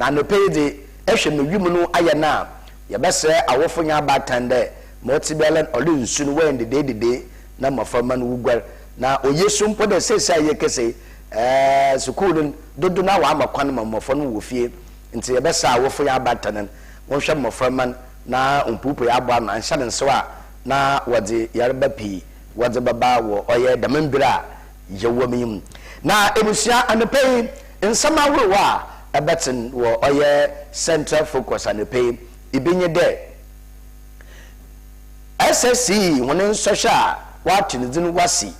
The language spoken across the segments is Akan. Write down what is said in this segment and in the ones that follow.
Na anɔpa yi dze, ehwɛ me wimu no ayɛ no a, yɛbɛserɛ awofo nye abaatan dɛ, ma ɔtse biara no, ɔwe nsu no wɛn dedeededee na mboframba no woguar. Na oye so mpo dɛ sesei a yɛrekesi yi, ɛɛɛ, skuul no dodow no ara wɔama kwan ma mbofra no wɔ fie. Ntsi yɛbɛserɛ awofo nye abaatan no, wɔnhwɛ mboframba no na wompueipuei aboa ano anhyɛ no nsew a na wɔdze yarba pii wɔdze bɛba wɔ ɔyɛ dɛm mber a yɛwɔ mu yi. Na abusua, anɔpa yi nsɛm ahorow a ɛbɛtsen wɔ ɔyɛ central focus anɔpa yi, bi nye dɛ, SSCE hɔn nsɔhwɛ a wɔato ne dzin Wɔasi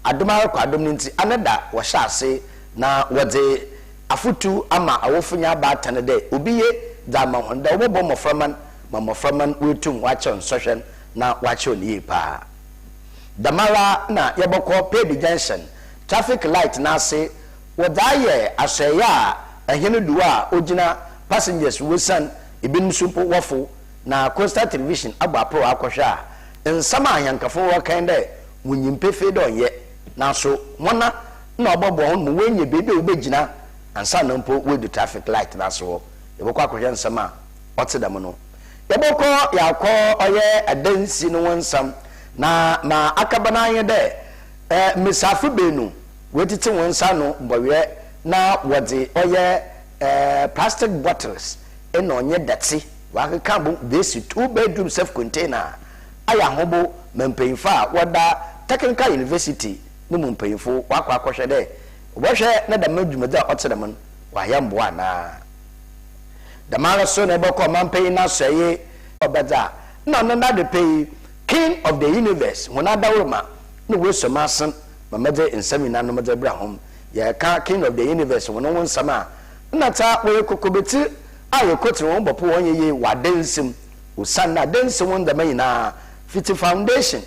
Adom Ara Kɔ Adom no ntsi, anada wɔhyɛ ase na wɔdze afotu ama awofo nye abaatan dɛ obi ye dze ama hɔn dɛ wɔbɔbɔ mboframba no ma mboframba no woetum wɔakyerɛw nsɔhwɛ no na wɔakyerɛw no yie paa. Dɛmara na yɛbɔkɔ Pady Junction traffic light no ase wɔdze ayɛ asoɛe a ahɛn du a ogyina passengers wosian, binom so mpo wɔfow, na Coastal Television abɔ aporow akɔhwɛ a nsɛm a ahɛnkafo no wɔkã nye dɛ wonyim pefee dɛ ɔnnyɛ, naaso hɔnã na ɔbɔboa hɔn ma woenya beebi a wobegyina ansaana mpo woedu traffic light no ase hɔ. Yɛbɔkɔ akɔhwɛ nsɛm a ɔtse dɛm no. Yɛbɔkɔ yɛakɔ ɔyɛ adansi no ho nsɛm, na ma akɛba no ara nye dɛ mbasiafo beenu woetsitsi hɔn nsa ano bɔweɛ na wɔdze ɔyɛ plastic bottles na ɔnye dɛtse wɔakeka abɔ mu beesi two bedroom safe container a ayɛ ahobow ma mpanyimfo a wɔda Technical University no mu mpanyimfo wɔakɔ akɔhwɛ dɛ wɔbɔhwɛ na dɛm dwumadzi a ɔtse dɛm no wɔayɛ mboa anaa. Dɛmara so na ebɔkɔ ɔmampanyin n'asɔɛe wɔ bɛdze a nna ɔno n'adepɛ yi, King of the Universe, hɔn adawor ma na woesuo m'asen ma medze nsɛm nyinanom dze bra hom. Yɛrekã King of the Universe hɔn ho nsɛm a, nna tsa wɔyɛ kokobetsir a yekotsen hɔn bɔpo hɔn yeye wɔ adansi mu, osiandɛ adansi ho ndzɛmba nyina fitsi foundation,